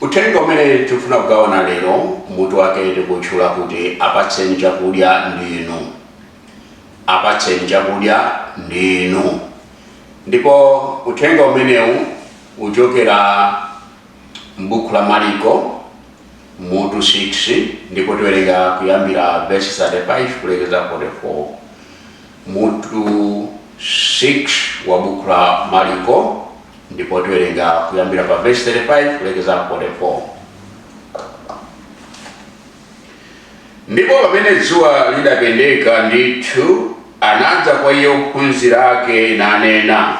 Uthenga umene tifuna kugawana lero mutu wake tikuutchula kuti Apatseni Chakudya Ndinu. Apatseni Chakudya Ndinu. Ndipo uthenga umenewu uchokera m'buku la Maliko mutu 6 ndipo tiwerenga kuyambira vesi 35 kulekeza 44. Mutu 6 wa buku la Maliko ndipo tiwerenga kuyambira pa vesi 35 kulekeza 44. Ndipo pamene dzuwa lidapendeka ndithu, anadza kwa iye ophunzira ake nanena,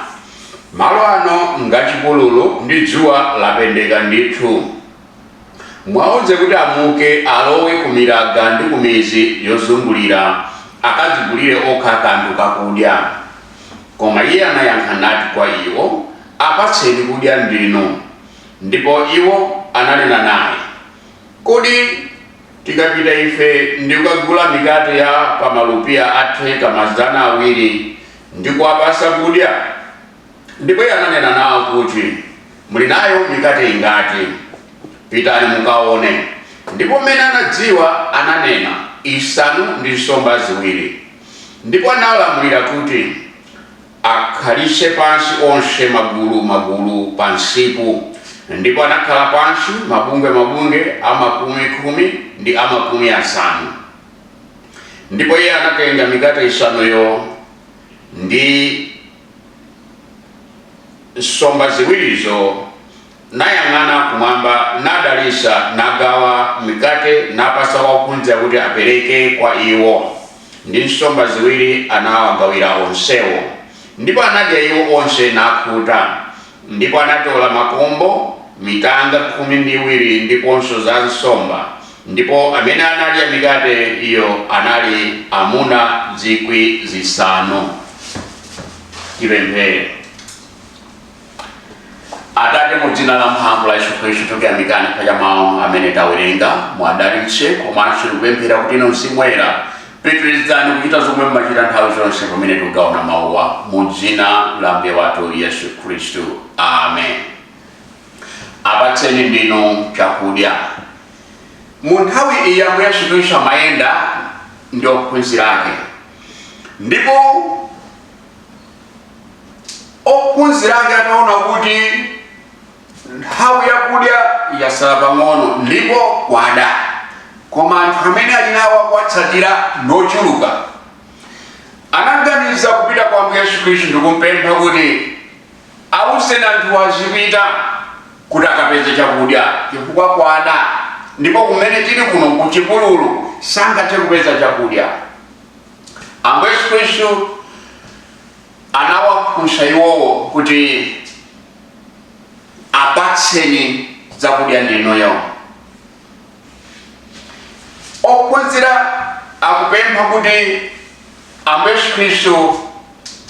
malo ano ngachipululu ndi dzuwa lapendeka ndithu. Muwauze kuti amuke, alowe kumiraga ndi kumidzi yozungulira, akadzigulire okha kanthu kakudya. Koma Iye anayankha nati kwa iwo, Apatseni kudya ndinu. Ndipo iwo ananena naye, Kodi tikapita ife ndi kukagula mikate ya pa malupiya atheka mazana awiri, ndi kuwapatsa kudya? Ndipo iye ananena nawo kuti, Muli nayo mikate ingati? Pitani mukaone. Ndipo m'mene anadziwa, ananena, Isanu ndi nsomba ziwiri. Ndipo analamulira kuti akhalitse pansi onse magulu magulu pa msipu, ndipo anakhala pansi mabungwe mabungwe a makumi khumi ndi a makumi asanu. Ndipo iye anatenga mikate isanuyo ndi. nsomba ziwirizo, nayang'ana kumwamba, nadalitsa, nagawa mikate, napatsa ophunzira kuti apereke kwa iwo, ndi nsomba ziwiri anawagawira onsewo. Ndipo anadya iwo onse, nakhuta, Ndipo anatola makombo, mitanga khumi ndi iwiri, ndiponso za zinsomba, ndipo amene anadya mikate iyo anali amuna zikwi zisanu. Tipemphere. Atate, mu dzina la mphamvu la Yesu Khristu, tikuyamikani pa mawu amene tawerenga. Muwadalitse komanso tikupemphera kuti inu Mzimu Woyera Pitirizani kuchita zomwe mumachita nthawi zonse pamene tikugawana mawuwa mu dzina la Ambuye wathu Yesu Khristu. Amen. Apatseni ndinu chakudya. Mu nthawi iyi Ambuye Yesu Khristu amayenda ndi ophunzira ake ndipo ophunzira ake ataona kuti nthawi yakudya yasala pang'ono ndipo kwada koma anthu amene ali nawo akuwatsatira nochuluka anaganiza kupita kwa ambuye yesu khristu ndikumpempha kuti awuzeni anthu azipita kuti akapeze chakudya chifukwa kwada ndipo kumene tili kuno kuchipululu sangathe kupeza chakudya ambuye yesu khristu anawafunsa iwowo kuti, Apatseni zakudya ndinuyo. Ophunzira akupempha kuti Ambuye Yesu Khristu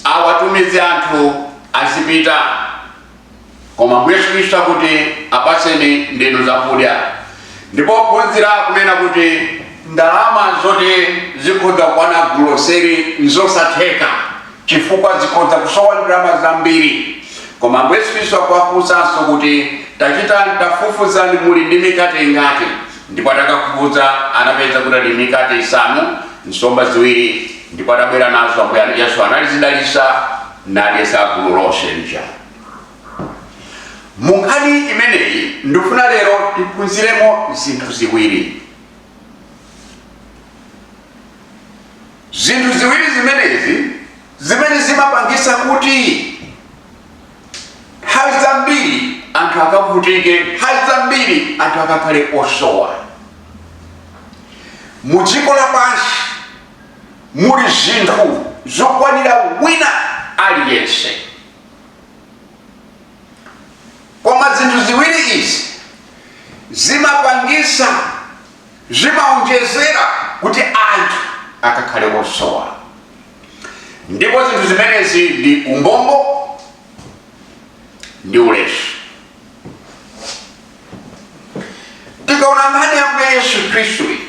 awatumize anthu azipita. Koma Ambuye Yesu Kristu akuti, Apatseni ndinu zakudya. Ndipo ophunzira akunena kuti, Ndalama zoti zikhoza kukwana guloseri n'zosatheka chifukwa zikhoza kusowa ndalama zambiri. Koma Ambuye Yesu Kristu akuwafunsanso kuti, Tapitani, tafufuzani muli ndi mikate ingati? Ndipo atakafufuza anapeza kuti ali ndi mikate isanu, nsomba ziwiri. Ndipo atabwera nazo, Ambuye Yesu anazidalitsa. nadyetsa gulu lonse lija. Mu nkhani imeneyi ndifuna lero tiphunziremo zinthu ziwiri. Zinthu ziwiri zimenezi zimene zimapangisa kuti nthawi zambiri anthu akavutike, nthawi zambiri anthu akakhale osowa mu dziko lapansi. Muli zinthu zokwanira wina aliyense. Koma zinthu ziwiri izi zimapangisa, zimaonjezera kuti anthu akakhale osowa. Ndipo zinthu zimenezi ndi umbombo ndi ulesi. Tikaona nkhani ya Ambuye Yesu Khristu iyi,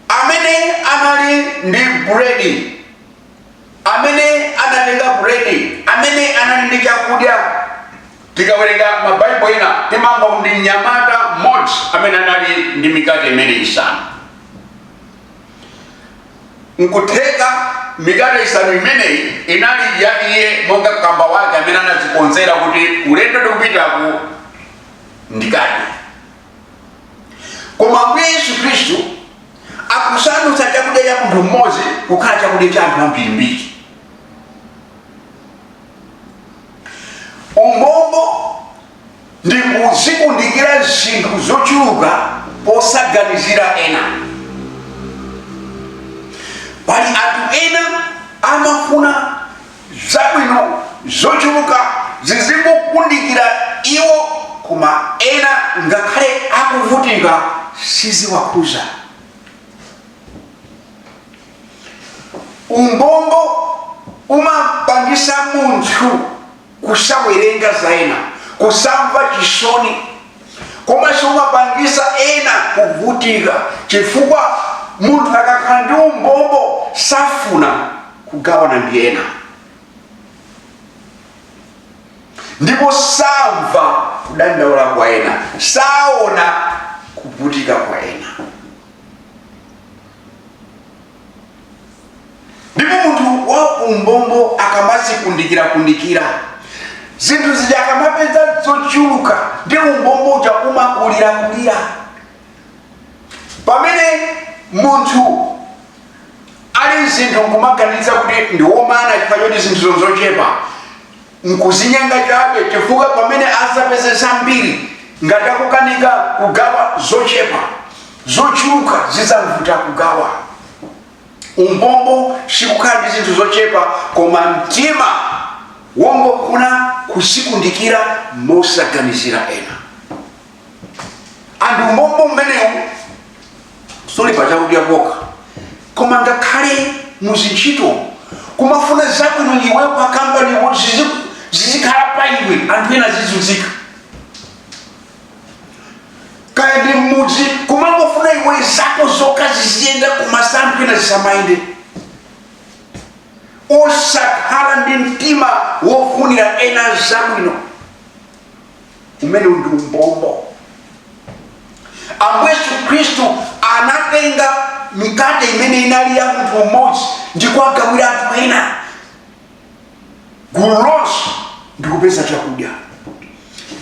amene anali ndi buredi amene anatenga buredi amene anali ndi chakudya tikawerenga mabaibo ena timamva kuti ndi mnyamata mmodzi amene anali ndi mikate imeneyi isanu nkutheka mikate isanu imeneyi inali ya iye monga kamba wake amene anadzikonzera kuti ulendo ndikupitaku ndikadye koma ambuye yesu khristu akusandutsa chakudya cha munthu mmodzi kukhala chakudya cha anthu ambirimbiri umbombo ndi kuzikundikira zinthu zochuluka posaganizira ena pali anthu ena amafuna zabwino zochuluka zizikundikira iwo koma ena ngakhale akuvutika siziwakhuza umbombo umapangisa munthu kusawerenga za ena kusamva chisoni komanso umapangisa ena kuvutika chifukwa munthu akakhala ndi umbombo safuna kugawana ndi ena ndipo samva kudandaula kwa ena saona kuvutika kwa ena ndipo munthu wa umbombo akamazikundikira kundikira zinthu zija akamapeza zochuluka ndi umbombo uja umakulira kulira pamene munthu ali zinthu nkumaganiza kuti ndiwomana chifukwa choti zinthu ndi zochepa Nkuzinyenga chabe chifukwa pamene azapeze zambiri ngati akukanika kugawa zochepa, zochuluka zizamvuta kugawa. Umbombo sikukhala ndi zinthu zochepa koma mtima wongofuna kuzikundikira mosaganizira ena. and umbombo umenewu suli pa chakudya pokha koma ngakhale muzintchito kumafuna zabwino iwe pa kampani zizikhala pa iwe anthu ena azizunzika kaya ndi mmudzi kumangofuna iwe zako zokha ziziyenda koma za anthu ena zisamayende osakhala ndi mtima wofunira ena zabwino umenewo ndi umbombo ambuye yesu khristu anatenga mikate imene inali ya munthu umodzi ndi kuwagawira anthu ena gulu lonse ndi kupeza chakudya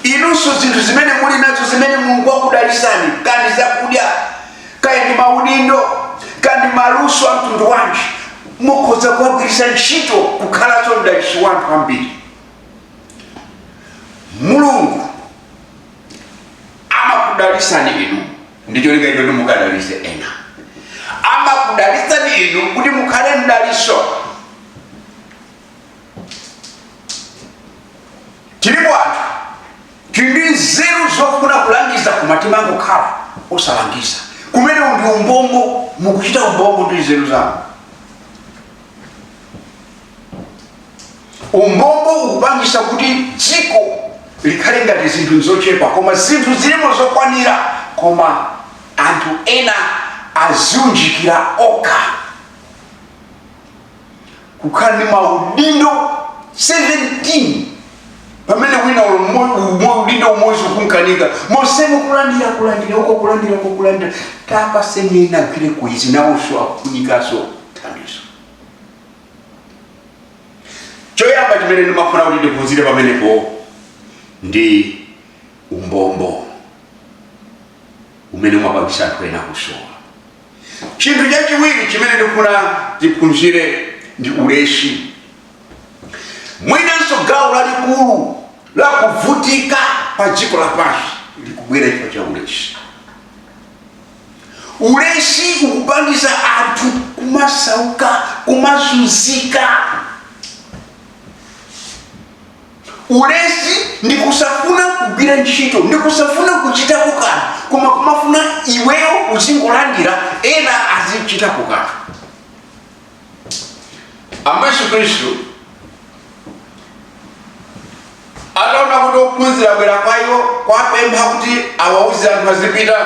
inunso zinthu zimene muli nazo zimene mulungu wakudalisani kaya ndi zakudya kaya ndi maudindo kaya ndi maluso a mtundu wanji mukhoza kuwagwiritsa ntchito kukhalanso mdaliso wa anthu ambiri mulungu amakudalisani inu ndicholinga choti mukadalise ena amakudalisani inu kuti mukhale mdaliso tilipo anthu tili ndi nzeru zofuna kulangiza koma timangokhala osalangiza umenewo ndi umbombo mukuchita umbombo ndi nzeru zanu umbombo ukupangisa kuti dziko likhale ngati zinthu nzochepa koma zinthu zilimo zokwanira koma anthu ena adziunjikira okha kukhala ndi maudindo 17 pamene wina ulo mmo- umo- udindo umodzi ukunkanika monsemo kulandira kulandira uko kulandira uko kulandira tapatseni ena agwireko izi nawonso akufunikanso thandizo choyamba chimene ndimafuna kuti tiphunzire pamenepo ndi umbombo umene umapangisa anthu ena kusowa chinthu chachiwiri chimene ndikufuna tiphunzire ndi ulesi mwinanso gawo lalikulu la kuvutika pa dziko lapansi likubwera chifukwa cha ulesi ulesi ukupangitsa anthu kumasauka kumazunzika ulesi ndi kusafuna kugwira ntchito ndi kusafuna kuchitapo kanthu koma kumafuna iweyo uzingolandira ena azichitapo kanthu ambuye yesu khristu ataona kuti ophunzira abwera kwa iwo kuwapempha kuti awauze anthu azipita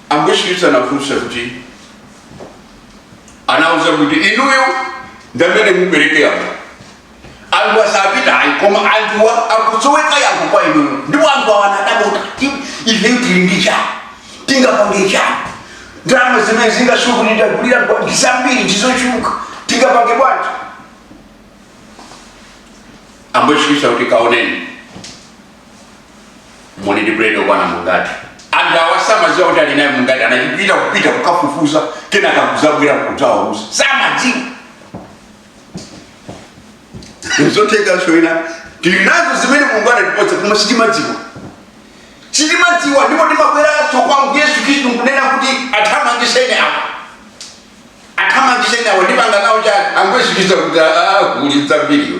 ambuye yesu khristu anafunsa kuti anauza kuti inuyo ndamene mupereke anthu Anthuwa sapita ayi koma anthuwa akusoweka yankho kwa inuyo ndipo anthuwa anadabwa kuti ifeyo tili ndi chani tingapange chani ndalama zimene zingasowe kuti tiwagulire ndi zambiri ndizochuluka tingapange bwanji ambuye yesu kristu akuti kaoneni muli ndi buledi okwana mungati anthu awa samadziwa kuti ali naye mungati anachipita kupita kukafufuza kenaka kuzabwera kudzawauza samadziwa zotheka zoyenera tili nazo zimene mulungu anatipatsa koma sitimadziwa sitimadziwa ndipo timabweranso kwa Ambuye yesu khristu ndikunena kuti athamangitseni awa athamangitseni awa ndipanga nawo chani Ambuye yesu khristu akuti "Ah, kuli zambiriwe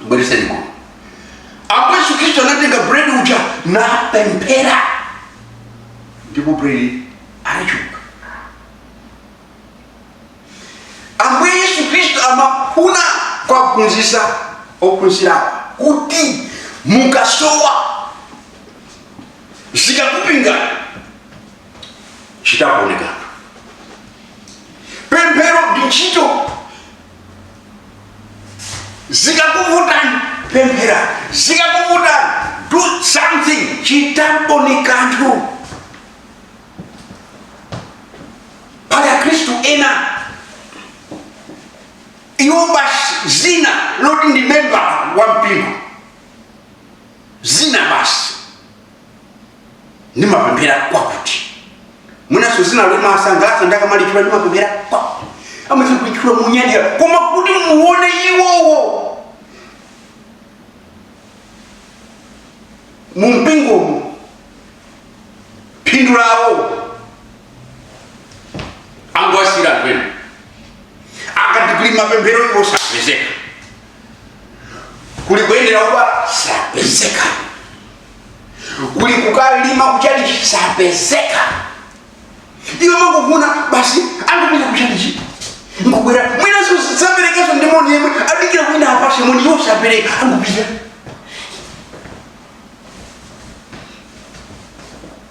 bweretsani kuno ambuye yesu khristu anatenga buledi uja napemphera ndipo buledi anachuluka ambuye yesu khristu amafuna kuphunzitsa ophunzirawo kuti mukasowa zikakupingani chitakuonekana pemphero ndi ntchito zikakuvutani pemphera zikakuvutani do something chitanponi kanthu pali akhristu ena iwo basi zina loti ndi memba wa mpingo zina basi ndimapemphera kwakuti mwinanso zina limasangalatsa akamalitchula ndimapemphera kwakuti amati kulitchula monyadira koma kuti muone iwowo mumpingomo phindu lawo angowasiyira anthu ena akati kuli mapemphero iwo sapezeka kuli kuyendera odwala sapezeka kuli kukalima kuchalichi sapezeka iwo amangofuna basi angopita kuchalichi angobwera mwinaso saperekaso ndi moni yemwe adikira wina awapatse moni iwo sapereka angopita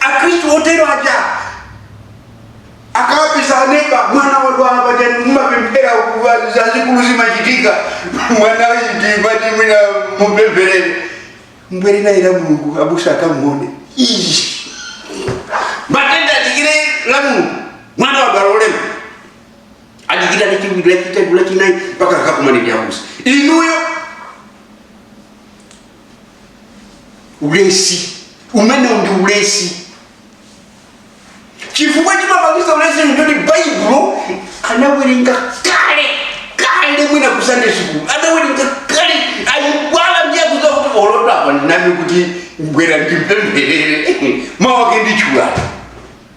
akristu otero aja akawapeza aneba mwana wadwala pajani mumapemphera zazikulu zimachitika mwana uyu tati mwina mumpempherere mubwere naye la mulungu abusa akamuone Ii. matenda adikire la mulungu mwana wadwala olema adikira lachiwiri lachitatu lachinayi mpaka akakumane ndi abusa inuyo ulesi umenewo ndi ulesi chifukwa chimapangisa ulesi ndoti baibulo anawerenga kale kale mwina ku sunday school anawerenga kale anayiwala ndiye kuza kuti olo apa ndinami kuti bwerani ndimpempherere mawake ndichulapa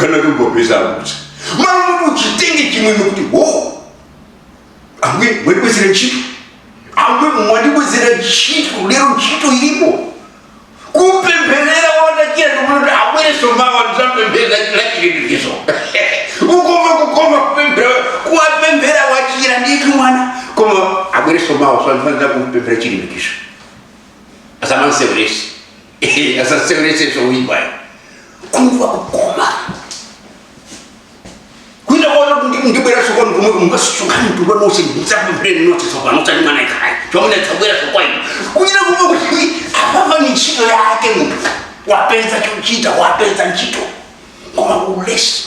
kana kungopeza kuti malo kuti uchitenge chimwemwe kuti wo ambuye mwandibwezera ntchito ambuye mwandibwezera ntchito lero ntchito ilipo kupempherera wachira ndikuti abwereso mawa ndidzapempherere chira chilikizo ukoma kukoma kupemphera kuwapemphera wachira ndithu mwana koma abwereso mawa ndidzafunika kumpempherera chilikizo asamamseweretse asaseweretse woipayo kumva kukoma kuita kwaona kuti ndibwera sokoni kumwe kungasisukani mtundu wanose mudzakupireni nose sokoni usati mwana kaya chomwe tsabwera sokoni kunyira kumwe kuti apapa ni ntchito yake munthu wapeza chochita wapeza ntchito koma ulesi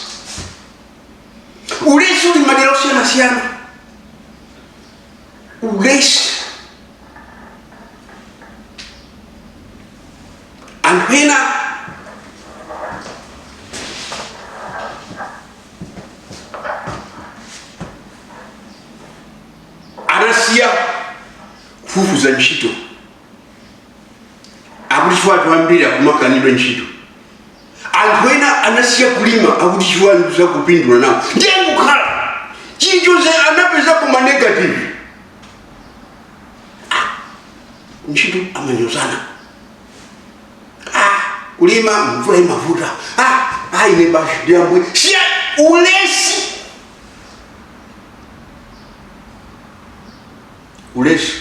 ulesi uli madera osiyana-siyana ulesi anthu ena anasiya kufufuza ntchito akuti chifukwa anthu ambiri akumakanidwa ntchito anthu ena anasiya kulima akuti chifukwa sakupindula nawo ndiye kukhala chilichonse anapezako ma negative Ah, ntchito amanyozana Ah, kulima mvula imavuta Ah, ah, ine basi ndi bwino ndisiye ulesi ulesi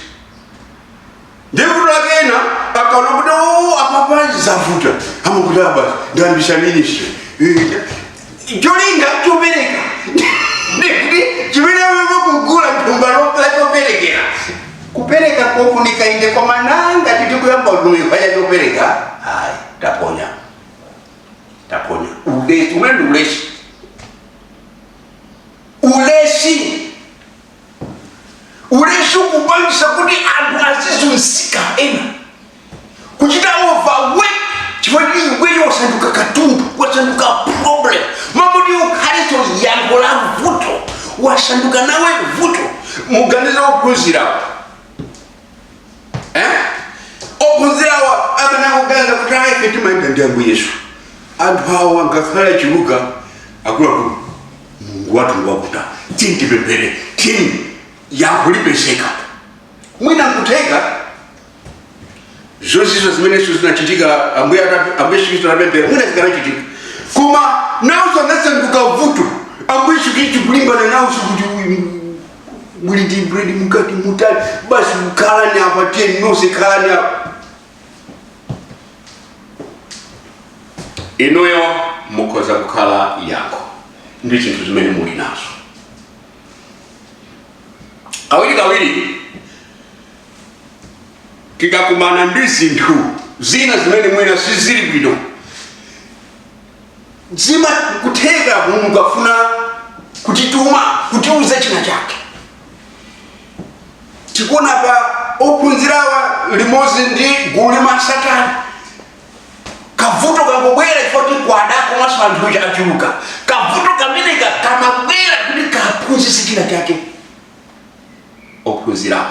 ndi vuto lake ena akaona kuti "Oh, apa panji zavuta amakuti apa ndiyambisa ministry Eh, cholinga chopereka ndikuti chimene amene kugula thumba lo- la choperekera kupereka kofunika inde koma nanga titikuyamba utumiki paja chopereka ayi taponya taponya ulesi umene ndi ulesi ulesi ulesi ukupangitsa kuti anthu azizunzika ena kuchita overwork chifukwa iweyo wasanduka katundu wasanduka problem mmalo moti ukhale yankho la vuto wasanduka nawe vuto muganiza ophunzirawo eh? ophunzirawa akanaganiza kuti ife timayenda ndi ambuye yesu anthu awa ngakhale achuluka akuluakulu mulungu wathu ngwakutha tiyeni tipemphere tiyeni yankho lipezeka mwina nkutheka zonsezo zimenezo zinachitika ambuye ata- ambuye yesu kristu anapemphera mwina zikanachitika koma nawonso anasanduka vuto ambuye yesu kristu kulimbana nawonso kuti muli ndi bread mukati mutani basi mukhalani apa tiyeni nonse khalani apa inuyo mukhoza kukhala yankho ndi zinthu zimene muli nazo kawiri kawiri tikakumana ndi zinthu zina zimene mwina sizili bwino ndi mwa kutheka mulungu afuna kutituma kutiuza china chake tikuona pa ophunzirawa limodzi ndi gulu limatsatana kavuto kangobwera chifukwa choti kwada komanso anthu aja achuluka kavuto kameneka kamabwera kuti kaphunzitse china chake ophunzirawa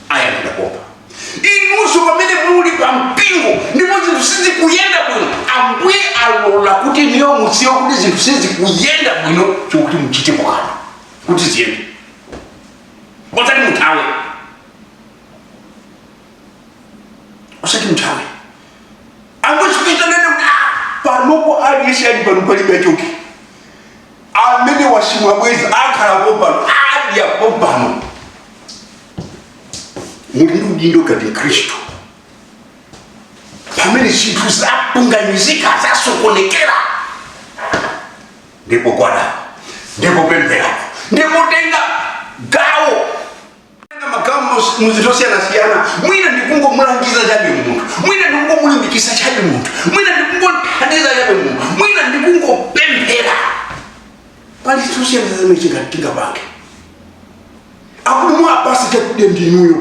ayankhula pompa inunso pamene muli pa mpingo ndipo zinthu sizikuyenda bwino ambuye alola kuti inuyo muziwe kuti zinthu sizikuyenda bwino chokuti muchitepo kanthu kuti ziyende osati muthawe osati muthawe Ambuye Yesu atanena kuti "Ah, panopo aliyense ali pano palibe choke amene wachimwa bwezi akhala pompano adya pompano muli ndi udindo ngati mkhristu pamene zinthu zapunganizika zasokonekera ndikugwada ndikupemphera ndikutenga gawo kutenga magawo mu- mu zinthu zosiyanasiyana mwina ndikungomulangiza chabe munthu mwina ndikungomulimbikisa chabe munthu mwina ndikungothandiza chabe munthu mwina ndikungopemphera pali zinthu zosiyanasiyana zimene tinga- tingapange akuti mwapase chakudya ndinuyo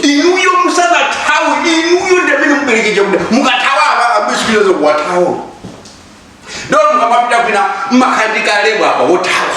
inuyo musanathawe inuyo ndamene mupereke chakudya mukathawa apa abisipirizo kuwathawa ndiye mukamapita kwina mmakhandika label apa wothawa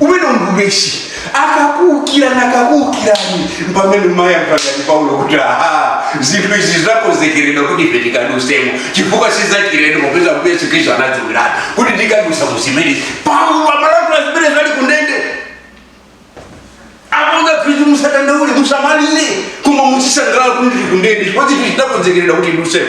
umenewo ndi ulesi akakuukira nakakuukirani pamene umayamba ngati paulo kuti aha zinthu izi zakonzekeredwa kuti ife tikadusemo chifukwa sizachirendo popeza kuti yesu khristu anadziwiratu kuti tikadusa mu zimene paulo amalankhula zimene zali kundende akuuza akhristu musadandaule musamalire koma muzisangalala kuti ndili kundende chifukwa zinthu zinakonzekeredwa kuti ndidusemo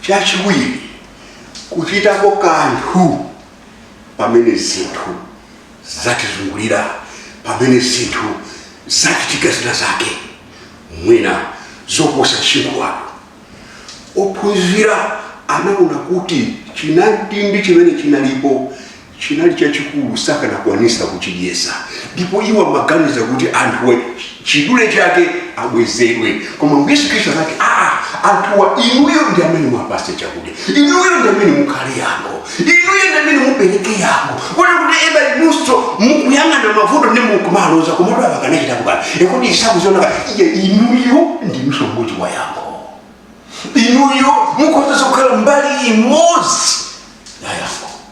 chachiwiri kuchitako kanthu pamene zinthu zatizungulira pamene zinthu zachitika zina zake mwina zoposa msinkhu wanu ophunzira anaona kuti chinamtindi chimene chinalipo chinali chachikulu sakanakwanisa kuchidyesa ndipo iwo amaganiza kuti anthuwa chidule chake abwezedwe koma Ambuye Yesu Khristu anati aa anthuwa inuyo ndi amene mwapase chakudya inuyo ndi amene mukhale yankho inuyo ndi amene mupereke yankho kuti kuti eba inunso mukuyang'ana mavuto ndi mukumaloza komatu apa kanachita kubala ekuti isakuziona iye inuyo ndi msongozi wa yankho inuyo mukhoza kukhala mbali imodzi ya yankho